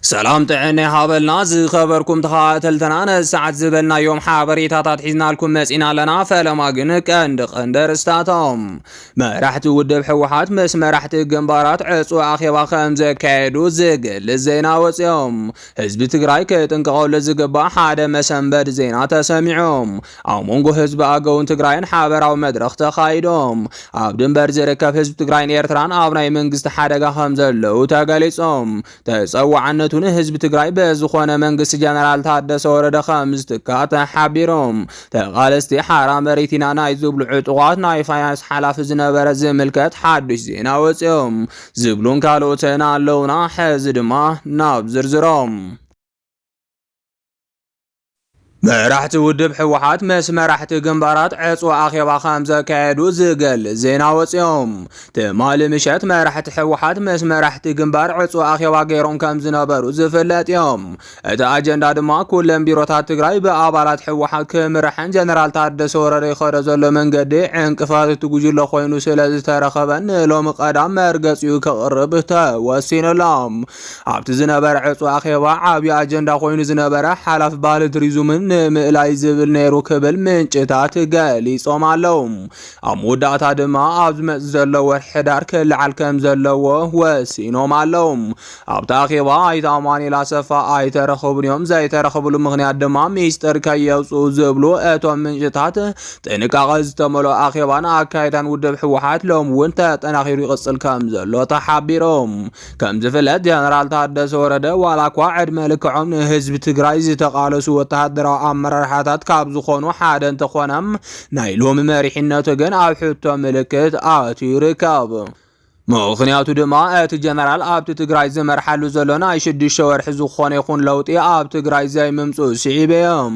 ሰላም ጥዕና ይሃበልና ዝኸበርኩም ተኸታተልትና ነሰዓት ዝበልናዮም ሓበሬታታት ሒዝናልኩም መፂና ኣለና። ፈለማ ግን ቀንዲ ቀንዲ ኣርእስታቶም መራሕቲ ውድብ ህወሓት ምስ መራሕቲ ግንባራት ዕፁ ኣኼባ ከም ዘካየዱ ዝገልፅ ዜና ወፂኦም ህዝቢ ትግራይ ክጥንቀቐሉ ዝግባእ ሓደ መሰንበድ ዜና ተሰሚዖም ኣብ መንጎ ህዝቢ ኣገውን ትግራይን ሓበራዊ መድረኽ ተኻይዶም ኣብ ድንበር ዝርከብ ህዝቢ ትግራይን ኤርትራን ኣብ ናይ መንግስቲ ሓደጋ ከም ዘለዉ ተገሊጾም ተጸዋዕነቱ ንህዝቢ ትግራይ ብዝኾነ መንግስቲ ጀነራል ታደሰ ወረደ ከም ዝትካ ተሓቢሮም ተቓለስቲ ሓራ መሬቲና ናይ ዝብሉ ዕጡቓት ናይ ፋይናንስ ሓላፊ ዝነበረ ዝምልከት ሓዱሽ ዜና ወፂኦም ዝብሉን ካልኦትን ኣለውና ሕዚ ድማ ናብ ዝርዝሮም መራሕቲ ውድብ ህወሓት ምስ መራሕቲ ግንባራት ዕፅዋ ኣኼባ ከም ዘካየዱ ዝገልፅ ዜና ወፂኦም። ትማሊ ምሸት መራሕቲ ህወሓት ምስ መራሕቲ ግንባር ዕፅዋ ኣኼባ ገይሮም ከም ዝነበሩ ዝፍለጥ እዮም። እቲ ኣጀንዳ ድማ ኩለን ቢሮታት ትግራይ ብኣባላት ህወሓት ክምርሐን ጀነራል ታደሰ ወረደ ይኸዶ ዘሎ መንገዲ ዕንቅፋት እቲ ጉጅለ ኮይኑ ስለ ዝተረኸበን ንሎሚ ቀዳም መርገፂኡ ክቕርብ ተወሲኑሎም። ኣብቲ ዝነበረ ዕፁ ኣኼባ ዓብዪ ኣጀንዳ ኮይኑ ዝነበረ ሓላፊ ባህሊ ቱሪዝምን ንምእላይ ዝብል ነይሩ ክብል ምንጭታት ገሊፆም ኣለው። ኣብ መወዳእታ ድማ ኣብ ዝመፅእ ዘሎ ወርሒ ሕዳር ክለዓል ከም ዘለዎ ወሲኖም ኣለው። ኣብቲ ኣኼባ ኣይተ ኣማኑኤል ኣሰፋ ኣይተረኸቡን እዮም። ዘይተረኸብሉ ምክንያት ድማ ሚስጥር ከየውፅኡ ዝብሉ እቶም ምንጭታት ጥንቃቐ ዝተመልኦ ኣኼባን ኣካይዳን ውድብ ህወሓት ሎሚ እውን ተጠናኺሩ ይቕፅል ከም ዘሎ ተሓቢሮም ከም ዝፍለጥ ጀነራል ታደሰ ወረደ ዋላ እኳ ዕድመ ልክዖም ንህዝቢ ትግራይ ዝተቓለሱ ወተሃደራዊ ኣመራርሓታት ካብ ዝኾኑ ሓደ እንተኾነ ናይ ሎሚ መሪሕነቱ ግን ኣብ ሕቶ ምልክት ኣትዩ ይርከብ። ምኽንያቱ ድማ እቲ ጀነራል ኣብቲ ትግራይ ዝመርሓሉ ዘሎ ናይ ሽዱሽተ ወርሒ ዝኾነ ይኹን ለውጢ ኣብ ትግራይ ዘይምምፅኡ ስዒበ እዮም።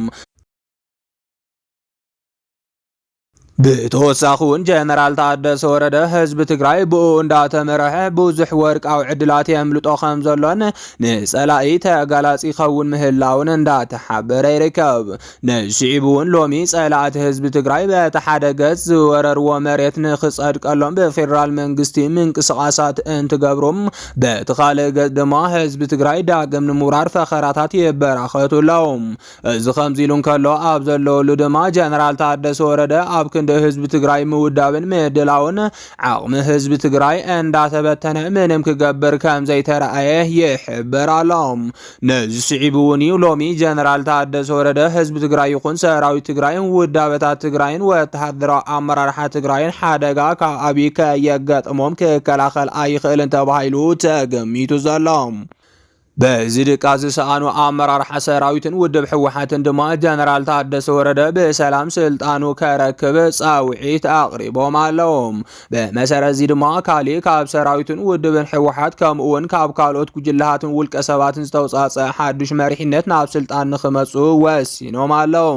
ብተወሳኺ እውን ጀነራል ታደሰ ወረደ ህዝቢ ትግራይ ብኡ እንዳተመረሐ ብዙሕ ወርቃዊ ዕድላት የምልጦ ከም ዘሎን ንፀላኢ ተጋላፂ ይኸውን ምህላውን እንዳተሓበረ ይርከብ። ነዚ ስዒቡ እውን ሎሚ ፀላእቲ ህዝቢ ትግራይ በቲ ሓደ ገፅ ዝወረርዎ መሬት ንክፀድቀሎም ብፌደራል መንግስቲ ምንቅስቓሳት እንትገብሩ በቲ ካልእ ገፅ ድማ ህዝቢ ትግራይ ዳግም ንምውራር ፈኸራታት ይበራኸቱ ኣለው። እዚ ከምዚ ኢሉ እንከሎ ኣብ ዘለወሉ ድማ ጀነራል ታደሰ ወረደ ኣብ ክንዲ ህዝቢ ትግራይ ምውዳብን ምድላውን ዓቕሚ ህዝቢ ትግራይ እንዳተበተነ ምንም ክገብር ከም ዘይተረኣየ ይሕበር ኣሎ። ነዚ ስዒቡ እውን እዩ ሎሚ ጀነራል ታደሰ ወረደ ህዝቢ ትግራይ ይኹን ሰራዊት ትግራይ ውዳበታት ትግራይን ወተሃደራዊ ኣመራርሓ ትግራይን ሓደጋ ካብ ኣብይ ከየጋጥሞም ክከላኸል ኣይኽእልን ተባሂሉ ተገሚቱ ዘሎ። በዚ ድቃስ ዝሰኣኑ ኣመራርሓ ሰራዊትን ውድብ ህወሓትን ድማ ጀነራል ታደሰ ወረደ ብሰላም ስልጣኑ ከረክብ ፃውዒት ኣቕሪቦም ኣለዉ። ብመሰረት እዚ ድማ ካሊእ ካብ ሰራዊትን ውድብን ህወሓት ከምኡ እውን ካብ ካልኦት ጉጅለሃትን ውልቀ ሰባትን ዝተውፃፀ ሓዱሽ መሪሕነት ናብ ስልጣን ንክመፁ ወሲኖም ኣለዉ።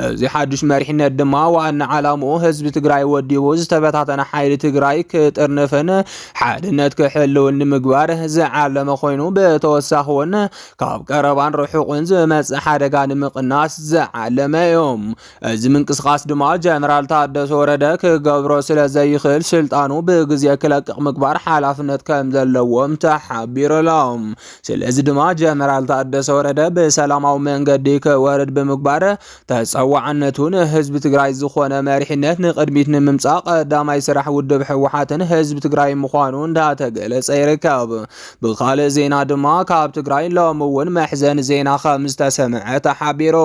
እዚ ሓዱሽ መሪሕነት ድማ ዋና ዓላምኡ ህዝቢ ትግራይ ወዲቡ ዝተበታተነ ሓይሊ ትግራይ ክጥርንፍን ሓድነት ክሕልውን ንምግባር ዝዓለመ ኮይኑ ብተወሳኺ እውን ካብ ቀረባን ርሑቕን ዝመፅእ ሓደጋ ንምቕናስ ዝዓለመ እዩ። እዚ ምንቅስቓስ ድማ ጀነራል ታደሰ ወረደ ክገብሮ ስለ ዘይኽእል ስልጣኑ ብግዜ ክለቅቕ ምግባር ሓላፍነት ከም ዘለዎም ተሓቢሩ ኣሎ። ስለዚ ድማ ጀነራል ታደሰ ወረደ ብሰላማዊ መንገዲ ክወርድ ብምግባር ተፀዋዕነቱ ንህዝቢ ትግራይ ዝኾነ መሪሕነት ንቅድሚት ንምምፃእ ቀዳማይ ስራሕ ውድብ ህወሓትን ህዝቢ ትግራይ ምዃኑ እንዳተገለፀ ይርከብ። ብካልእ ዜና ድማ ካብ ትግራይ ሎሚ እውን መሕዘኒ ዜና ከም ዝተሰምዐ ተሓቢሩ።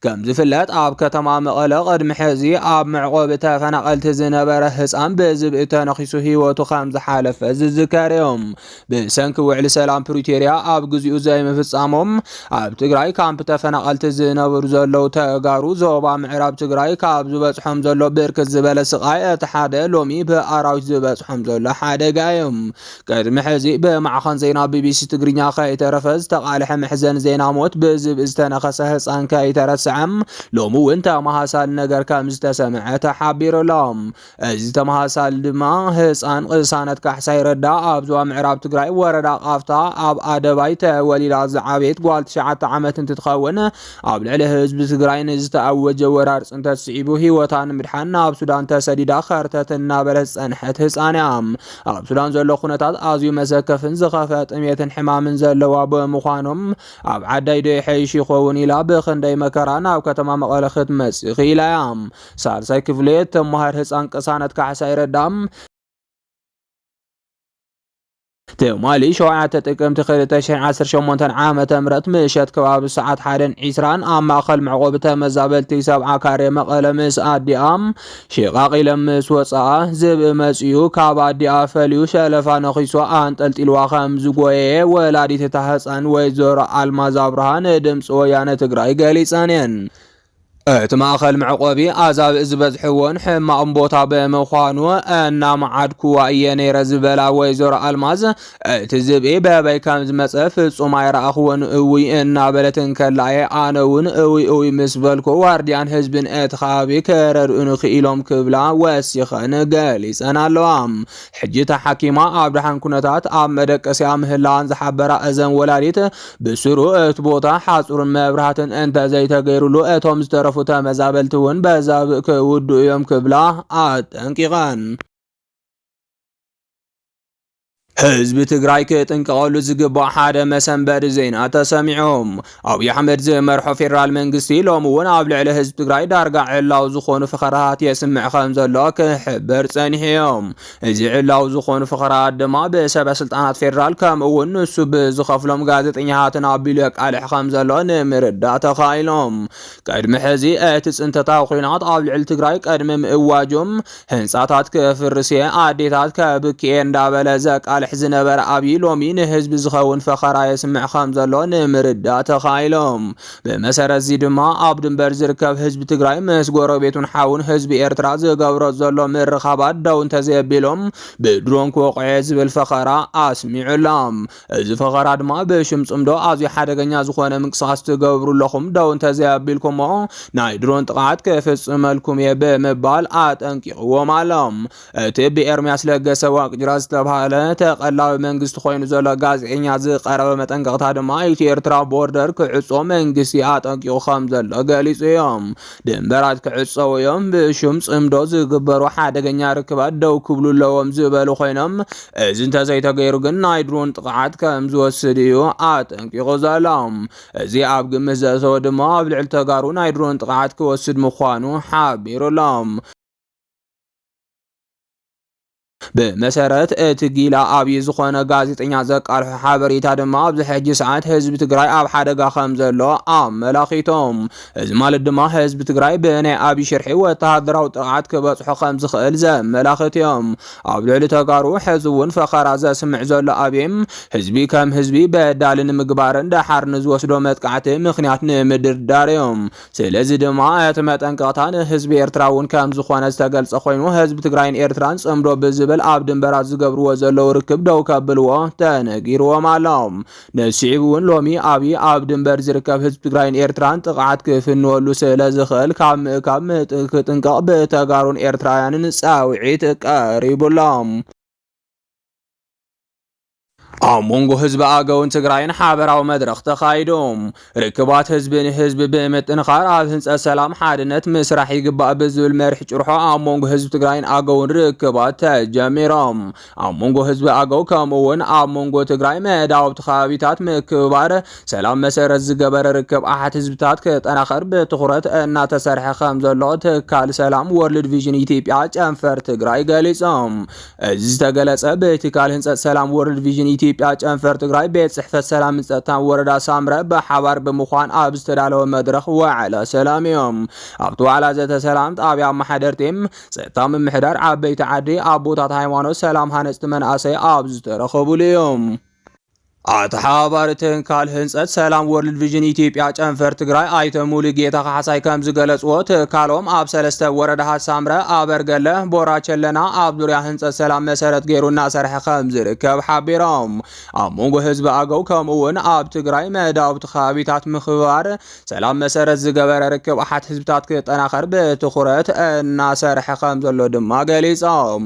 ከም ዝፍለጥ ኣብ ከተማ መቐለ ቅድሚ ሕዚ ኣብ መዕቆቢ ተፈናቐልቲ ዝነበረ ህፃን ብዝብኢ ተነኺሱ ህይወቱ ከም ዝሓለፈ ዝዝከር እዩ። ብሰንኪ ውዕሊ ሰላም ፕሪቶርያ ኣብ ግዚኡ ዘይምፍፃሞም ኣብ ትግራይ ካምፕ ተፈናቐልቲ ዝነብሩ ዘለዉ ተጋሩ ዞባ ምዕራብ ትግራይ ካብ ዝበፅሖም ዘሎ ብርክት ዝበለ ስቓይ እቲ ሓደ ሎሚ ብኣራዊት ዝበፅሖም ዘሎ ሓደጋ እዩ። ቅድሚ ሕዚ ብማዕኸን ዜና ቢቢሲ ትግርኛ ከይተረፈ ዝተቓልሐ መሕዘኒ ዜና ሞት ብዝብኢ ዝተነኸሰ ህፃን ከይተረስዐ ሎሚ እውን ተመሃሳሊ ነገር ከም ዝተሰምዐ ተሓቢሩ ኣሎ። እዚ ተመሳሳሊ ድማ ህፃን ቅሳነት ካሕሳይ ረዳ ኣብ ዞባ ምዕራብ ትግራይ ወረዳ ቃፍታ ኣብ ኣደባይ ተወሊዳ ዝዓበየት ጓል ትሽዓተ ዓመት እንትትኸውን ኣብ ልዕሊ ህዝቢ ትግራይ ንዝተኣወጀ ወራር ፅንተት ስዒቡ ህይወታ ንምድሓን ናብ ሱዳን ተሰዲዳ ከርተት እናበለት ዝፀንሐት ህፃን እያ። ኣብ ሱዳን ዘሎ ኩነታት ኣዝዩ መሰከፍን ዝኸፈ ጥሜትን ሕማምን ዘለዋ ብምዃኖም ኣብ ዓዳይ ዶ ይሐይሽ ይኸውን ኢላ ብክንደይ መከራ ናብ ከተማ መቐለ ክትመፅእ ክኢላ እያ። ሳልሳይ ክፍሌ ተማሃር ህፃን ቅሳነት ካሕሳይ ረዳም ትማሊ ሸውዓተ ጥቅምቲ 2018 ዓ ም ምሸት ከባቢ ሰዓት ሓደን ዒስራን ኣብ ማእኸል መዕቆቢ ተመዛበልቲ ሰብዓ ካሬ መቐለ ምስ ኣዲኣ ሽቓቕ ኢለን ምስ ወፅኣ ዝብኢ መፅኡ ካብ ኣዲኣ ፈልዩ ሸለፋ ነኺሶ ኣንጠልጢልዋ ከም ዝጎየ ወላዲት እታ ህፃን ወይዘሮ ኣልማዝ ኣብርሃ ንድምፂ ወያነ ትግራይ ገሊፀን እየን። እቲ ማእኸል መዕቆቢ ኣዛብእ ዝበዝሕዎን ሕማቕን ቦታ ብምዃኑ እናመዓድኩዋ እየ ነይረ ዝበላ ወይዘሮ ኣልማዝ እቲ ዝብኢ በበይ ከም ዝመፀ ፍፁም ኣይረኣኹዎን እውይ እናበለት እንከላ እየ ኣነ እውን እውይ እውይ ምስ በልኩ ዋርድያን ህዝብን እቲ ከባቢ ክረድኡኒ ክኢሎም ክብላ ወሲኸን ገሊፀን ኣለዋ። ሕጂ ተሓኪማ ኣብ ደሓን ኩነታት ኣብ መደቀሲኣ ምህላዋን ዝሓበራ እዘን ወላዲት ብስሩ እቲ ቦታ ሓፁርን መብራህትን እንተዘይተገይሩሉ እቶም ዝተረፉ ተመዛበልቲ እውን በዛብእ ክውድኡ እዮም ክብላ ኣጠንቂቐን። ህዝቢ ትግራይ ክጥንቀቐሉ ዝግባእ ሓደ መሰንበዲ ዜና ተሰሚዑ። ኣብዪ ኣሕመድ ዝመርሖ ፌዴራል መንግስቲ ሎሚ እውን ኣብ ልዕሊ ህዝቢ ትግራይ ዳርጋ ዕላው ዝኾኑ ፈኸራታት የስምዕ ከም ዘሎ ክሕበር ጸኒሑ እዮም። እዚ ዕላዊ ዝኾኑ ፍኸራኣት ድማ ብሰበ ስልጣናት ፌደራል ከምኡ እውን ንሱ ብዝኸፍሎም ጋዜጠኛታትን ኣቢሉ የቃልሕ ከም ዘሎ ንምርዳእ ተኻኢሎም። ቅድሚ ሕዚ እቲ ፅንተታዊ ኩናት ኣብ ልዕሊ ትግራይ ቅድሚ ምእዋጁ ህንፃታት ክፍርስ እየ፣ ኣዴታት ከብኪ እየ እንዳበለ ዘቃልሕ ዝነበረ ኣብይ ሎሚ ንህዝቢ ዝኸውን ፈኸራ የስምዕ ከም ዘሎ ንምርዳእ ተኻኢሎም። ብመሰረት'ዚ ድማ ኣብ ድንበር ዝርከብ ህዝቢ ትግራይ ምስ ጎረቤቱን ሓውን ህዝቢ ኤርትራ ዝገብሮ ዘሎ ምርኻባት ደው እንተዘየቢሉ ብድሮን ክወቕዕ'የ ዝብል ፈኸራ ኣስሚዑ ኣሎ። እዚ ፈኸራ ድማ ብሽም ጽምዶ ኣዝዩ ሓደገኛ ዝኾነ ምንቅስቓስ ትገብሩ ኣለኹም፣ ደው እንተዘይኣቢልኩም'ሞ ናይ ድሮን ጥቕዓት ክፍጽመልኩም'የ ብምባል ኣጠንቂቕዎም ኣሎ። እቲ ብኤርሚያስ ለገሰ ዋቅጅራ ዝተባህለ ተቐላቢ መንግስቲ ኮይኑ ዘሎ ጋዜጠኛ ዝቀረበ መጠንቀቕታ ድማ ኢትዮ ኤርትራ ቦርደር ክዕጾ መንግስቲ ኣጠንቂቑ ከም ዘሎ ገሊጹ እዮም። ድንበራት ክዕጸው እዮም፣ ብሹም ጽምዶ ዝግበሩ ሓደገኛ ርክባት ደው ክብሉ ኣለዎም ዝበሉ ኮይኖም እዚ እንተዘይተገይሩ ግን ናይ ድሮን ጥቕዓት ከም ዝወስድ እዩ ኣጠንቂቑ ዘሎ። እዚ ኣብ ግምት ዘእተወ ድማ ኣብ ልዕሊ ተጋሩ ናይ ድሮን ጥቕዓት ክወስድ ምዃኑ ሓቢሩ ኣሎ። ብመሰረት እቲ ጊላ ኣብዪ ዝኾነ ጋዜጠኛ ዘቃልሖ ሓበሬታ ድማ ኣብዚ ሕጂ ሰዓት ህዝቢ ትግራይ ኣብ ሓደጋ ከም ዘሎ ኣመላኺቶም። እዚ ማለት ድማ ህዝቢ ትግራይ ብናይ ኣብዪ ሽርሒ ወተሃደራዊ ጥቕዓት ክበጽሖ ከም ዝኽእል ዘመላኽት እዮም። ኣብ ልዕሊ ተጋሩ ሕዚ እውን ፈኸራ ዘስምዕ ዘሎ ኣብዪ ህዝቢ ከም ህዝቢ በዳሊ ንምግባርን ደሓር ንዝወስዶ መጥቃዕቲ ምኽንያት ንምድርዳር እዮም። ስለዚ ድማ እቲ መጠንቀቕታ ንህዝቢ ኤርትራ እውን ከምዝኾነ ዝተገልጸ ኮይኑ ህዝቢ ትግራይን ኤርትራን ጽምዶ ብዝብል ኣብ ድንበራት ዝገብርዎ ዘለዉ ርክብ ደው ከብልዎ ተነጊርዎም ኣሎ። ነዚ ስዒቡ እውን ሎሚ ኣብይ ኣብ ድንበር ዝርከብ ህዝቢ ትግራይን ኤርትራን ጥቕዓት ክፍንወሉ ስለዝኽእል ካብ ምእካብ ክጥንቀቕ ብተጋሩን ኤርትራውያንን ጻውዒት ቀሪቡሎም። ኣብ መንጎ ህዝቢ ኣገውን ትግራይን ሓበራዊ መድረኽ ተኻይዱ። ርክባት ህዝቢ ንህዝቢ ብምጥንኻር ኣብ ህንፀት ሰላም ሓድነት ምስራሕ ይግባእ ብዝብል መሪሕ ጭርሖ ኣብ መንጎ ህዝቢ ትግራይን ኣገውን ርክባት ተጀሚሮም። ኣብ መንጎ ህዝቢ ኣገው ከምኡ እውን ኣብ መንጎ ትግራይ መዳውብቲ ከባቢታት ምክብባር ሰላም መሰረት ዝገበረ ርክብ ኣሓት ህዝብታት ክጠናኸር ብትኹረት እናተሰርሐ ከምዘሎ ትካል ሰላም ወርልድ ቪዥን ኢትዮጵያ ጨንፈር ትግራይ ገሊፆም። እዚ ዝተገለጸ ብትካል ህንፀት ሰላም ወርልድ ቪዥን ኢትዮጵያ ጨንፈር ትግራይ ቤት ጽሕፈት ሰላምን ጸጥታን ወረዳ ሳምረ ብሓባር ብምዃን ኣብ ዝተዳለወ መድረኽ ዋዕላ ሰላም እዮም። ኣብቲ ዋዕላ ዘተ ሰላም ጣብያ ኣመሓደርቲ፣ ጸጥታ ምምሕዳር፣ ዓበይቲ ዓዲ፣ ኣቦታት ሃይማኖት፣ ሰላም ሃነፅቲ መናእሰይ ኣብ ዝተረኸቡሉ እዮም። ኣተሓባባሪ ትካል ህንፀት ሰላም ወርልድ ቪዥን ኢትዮጵያ ጨንፈር ትግራይ ኣይተ ሙሉጌታ ካሕሳይ ከም ዝገለፅዎ ትካሎም ኣብ ሰለስተ ወረዳሃት ሳምረ፣ ኣበርገለ፣ ቦራ ቸለና ኣብ ዙሪያ ህንፀት ሰላም መሰረት ገይሩ እናሰርሐ ከም ዝርከብ ሓቢሮም። ኣብ መንጎ ህዝቢ ኣገው ከምኡ እውን ኣብ ትግራይ መዳውብቲ ከባቢታት ምክብባር ሰላም መሰረት ዝገበረ ርክብ ኣሓት ህዝብታት ክጠናኸር ብትኹረት እናሰርሐ ከም ዘሎ ድማ ገሊፆም።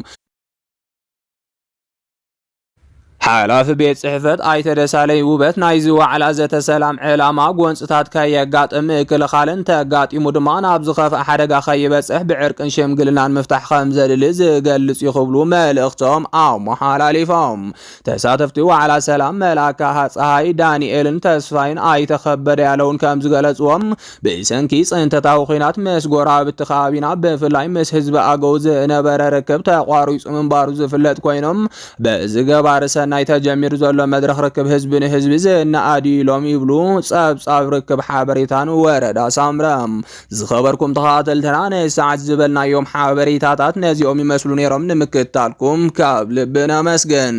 ሓላፊ ቤት ጽሕፈት ኣይተ ደሳለኝ ውበት ናይዚ ዋዕላ ዘተ ሰላም ዕላማ ጎንፅታት ከየጋጥም ምክልኻል እንተጋጢሙ ድማ ናብ ዝኸፍኣ ሓደጋ ከይበፅሕ ብዕርቅን ሽምግልናን ምፍታሕ ከም ዘድሊ ዝገልጽ እዩ ክብሉ መልእኽቶም ኣመሓላሊፎም። ተሳተፍቲ ዋዕላ ሰላም መላካ ፀሃይ ዳንኤልን ተስፋይን ኣይተኸበደ ያለውን ከም ዝገለጽዎም ብሰንኪ ፅንተታዊ ኲናት ምስ ጎረባብቲ ከባቢና ብፍላይ ምስ ህዝቢ ኣገው ዝነበረ ርክብ ተቋሪፁ ምንባሩ ዝፍለጥ ኮይኑ በዚ ገባሪ ሰናይ ተጀሚሩ ዘሎ መድረኽ ርክብ ህዝቢ ንህዝቢ ዝነኣድ እዩ ኢሎም ይብሉ ፀብፃብ ርክብ ሓበሬታን ወረዳ ሳምረ። ዝኸበርኩም ተኸታተልትና ንሰዓት ዝበልናዮም ሓበሬታታት ነዚኦም ይመስሉ ነይሮም። ንምክትታልኩም ካብ ልቢ ነመስግን።